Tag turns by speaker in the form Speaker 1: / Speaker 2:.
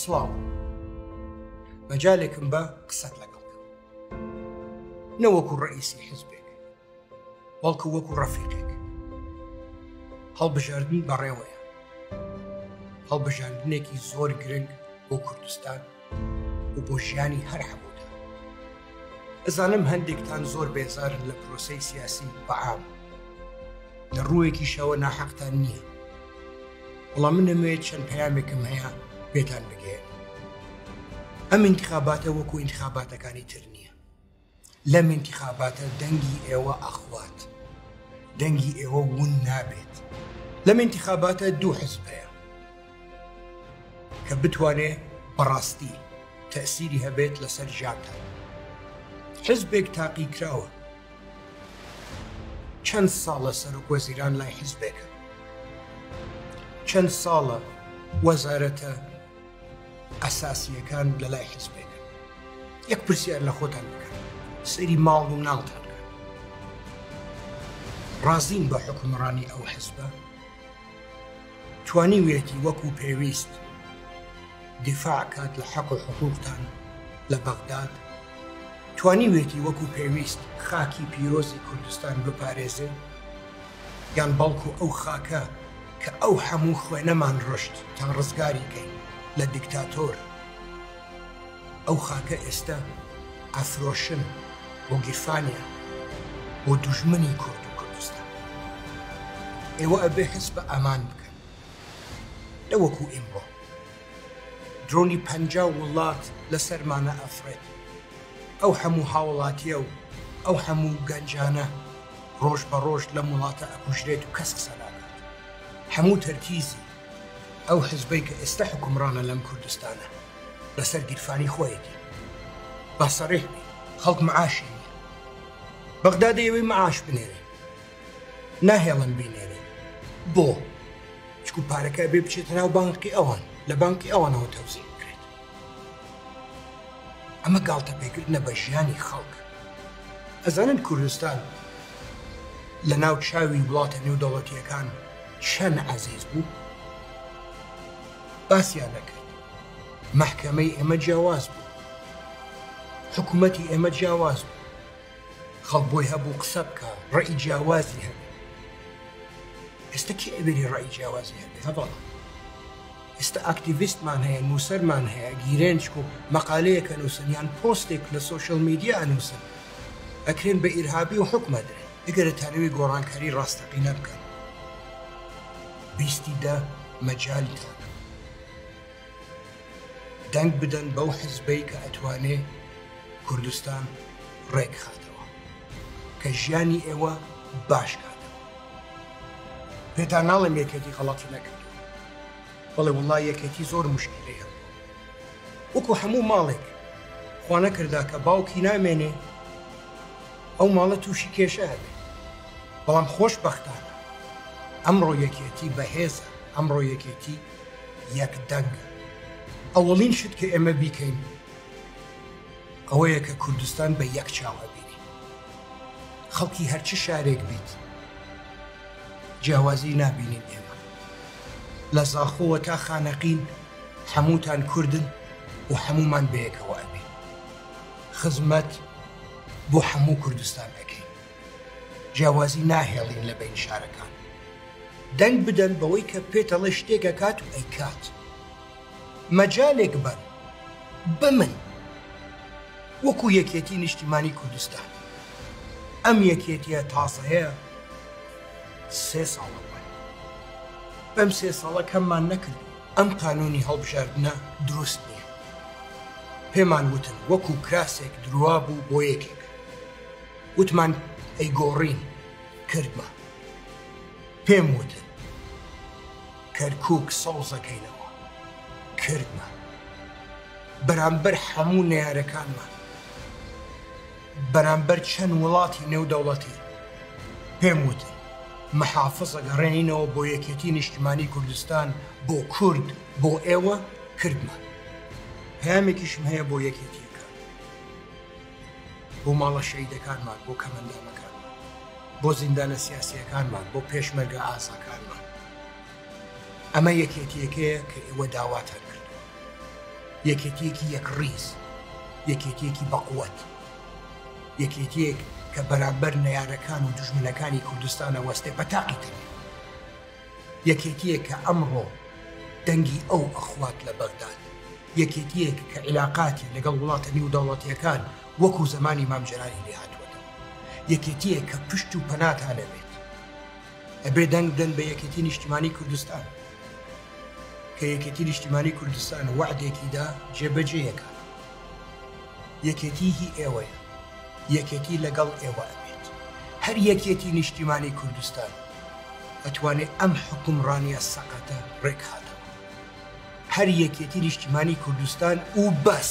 Speaker 1: سڵاو مەجالێکم بە قسەت لەگەڵ نەوەکو ڕئیسی حزبێک بەڵکو وەکو ڕەفیقێک هەڵبژاردن بەڕێوەیە هەڵبژاردنێکی زۆر گرنگ بۆ کوردستان و بۆ ژیانی هەر هەموودا ئەزانم هەندێکتان زۆر بێزارن لە پرۆسی سیاسی بەعام لە ڕووەکیشەوە ناحەقتان نییە وڵام من نەمەوێ چەند پەیامێکم هەیە پێتان بگێ ئەم انتخاباتە وەکو انتخاباتەکانی تر نییە لەم انتخاباتە دەنگی ئێوە ئەخوات دەنگی ئێوە ون نابێت لەم انتخاباتە دوو حزبەیە کە بتوانێ بەڕاستی تەسیری هەبێت لەسەر ژیانتان حزبێک تاقی کراوە چەند ساڵە سەرۆک وەزیران لای حیزبێکە چەند ساڵە وەزارەتە ئەساسیەکان لە لای حیزبێکە یەک پرسیار لە خۆتان بکەن سەری ماڵ و ناڵتان ڕازین بە حکومڕانی ئەو حزبە توانیویەتی وەکو پێویست دیفاع کات لە حەق و حقوقتان لە بەغداد، توانیویەتی وەکو پێویست خاکی پیرۆزی کوردستان بپارێزێ، یان بەڵکو ئەو خاکە کە ئەو هەموو خوێنەمان ڕشت تا ڕزگاری کەین لە دیکتاتۆر، ئەو خاکە ئێستە ئەفرۆشن بۆ گیرفانیان بۆ دوژمنی کورد و کوردستان ئێوە ئەبێ هەست بە ئامان بکەن نەوەکو ئیمڕۆ درۆنی پەنجا وڵات لەسەرمانە ئەفڕێت ئەو هەموو هاوڵاتیە و ئەو هەموو گەنجانە ڕۆژ بە ڕۆژ لەم وڵاتە ئەکوژرێت و کەس قسە ناکات هەموو تەرکیزی ئەو حزبەی کە ئێستا حکومڕانە لەم کوردستانە لەسەر گیرفانی خۆیەتی با سەڕێک بی خەڵک معاشی بەغدا دەیەوەی معاش بنێرێ ناهێڵن بینێرێ بۆ چکو پارەکە بێ بچێتە ناو بانقی ئەوان لە بانکی ئەوانەوە تەوزی بکرێت ئەمە گاڵتە پێکردنە بە ژیانی خەڵک ئەزانن کوردستان لە ناو چاوی وڵاتە نێودەوڵەتیەکان چەن عەزیز بوو باسیان نەکرد مەحکەمەی ئێمە جیاواز بوو حکوومەتی ئێمە جیاواز بوو خەڵ بۆی هەبوو قسە بکە ڕێی جیاوازی هەبێ ئێستا کی ئەبێری ڕێی جیاوازی هەبێ هەبڵ ئێستا ئاکتیڤستمان هەیە نووسەرمان هەیە گیرێنچک و مەقالەیەکە نووسنیان پۆستێک لە سوۆشل میدیا ئەنووسن ئەکرێن بە ئیرهابی و حکومە درێن ئەگەر دەتانەوێ گۆڕانکاری ڕاستەقینە بکەن بیستی دە مەجالتان دەنگ بدەن بەو حزبەی کە ئەتوانێ کوردستان ڕێکخاتەوە کە ژیانی ئێوە باشکاتەوە پێتان ناڵێم یەکێتی غەڵاتی نەکرد بەڵێ وڵای یەکێتی زۆر مشکلی هەم وەکو هەموو ماڵێک خوانەکردا کە باوکی نامێنێ ئەو ماڵە تووشی کێشە ئەبێت، بەڵام خۆشبەختانە ئەمڕۆ یەکێتی بەهێزە، ئەمڕۆ یەکێتی یەک دەنگە. ئەوەڵین شت کە ئێمە بیکەین ئەوەیە کە کوردستان بە یەک چاو ئەبینین. خەڵکی هەر چ شارێک بیت جیاوازی نابینین ئێمە. لە زاخۆوە تا خانەقین هەمووتان کوردن و هەموومان بەیەکەوە ئەبین. خزمەت بۆ هەموو کوردستان دەکەین جیاوازی ناهێڵین لە بین شارەکان دەنگ بدەن بەوەی کە پێتەڵە شتێکەکات و ئەیکات مەجالێک بەن بمن وەکو یەکێتی نیشتیمانی کوردستان ئەم یەکێتیە تاسەیە سێ ساڵە بەم سێ ساڵە کەممان نەکردووە ئەم قانونی هەڵبژاردنە دروست نیە پێمان وتن وەکو کراسێک دروا بوو بۆ یەکێک وتمان ئەی گۆڕین کردمان پێم وتن کەرکک سەوزەکەینەوە کردمان بەرامبەر هەموو نەیارەکانمان بەرامبەر چەند وڵاتی نێودەوڵەتی پێم وتی محافز ئەگەڕێنینەوە بۆ یەکێتی نیشتمانی کوردستان بۆ کورد بۆ ئێوە کردمە پامێکیشم هەیە بۆ یەکێتی بۆ ماڵە شەیدەکانمان بۆ کەمەندانەکان بۆ زیندانە سیاسیەکانمان بۆ پێشمەرگە ئازاکانمان ئەمە یەکێتیەکەیە کە ئێوە داواتان کردووە، یەکێتیەکی یەکڕیز، یەکێتیەکی بەقوەت، یەکێتیەک کە بەرامبەر نەیارەکان و دوژمنەکانی کوردستان ئەوەستێ بە تاقی تەنیا، یەکێتیەک کە ئەمڕۆ دەنگی ئەو ئەخوات لە بەغداد، یەکێتیەک کە عیلاقاتی لەگەڵ وڵاتە نیودەوڵەتیەکان وەکو زەمانی مام جەلالی لێهاتووەتەوە، یەکێتیەک کە پشت و پەناتان ئەوێت. ئەبێ دەنگ بدەن بە یەکێتی نیشتیمانی کوردستان کە یەکێتی نیشتیمانی کوردستان وعدێکیدا جێبەجێیەکە یەکێتی هی ئێوەیە یەکێتی لەگەڵ ئێوە ئەبێت هەر یەکێتی نیشتیمانی کوردستان ئەتوانێت ئەم حکومڕانیە سەقەتە ڕێکخاتەوە هەر یەکێتی نیشتیمانی کوردستان و بەس.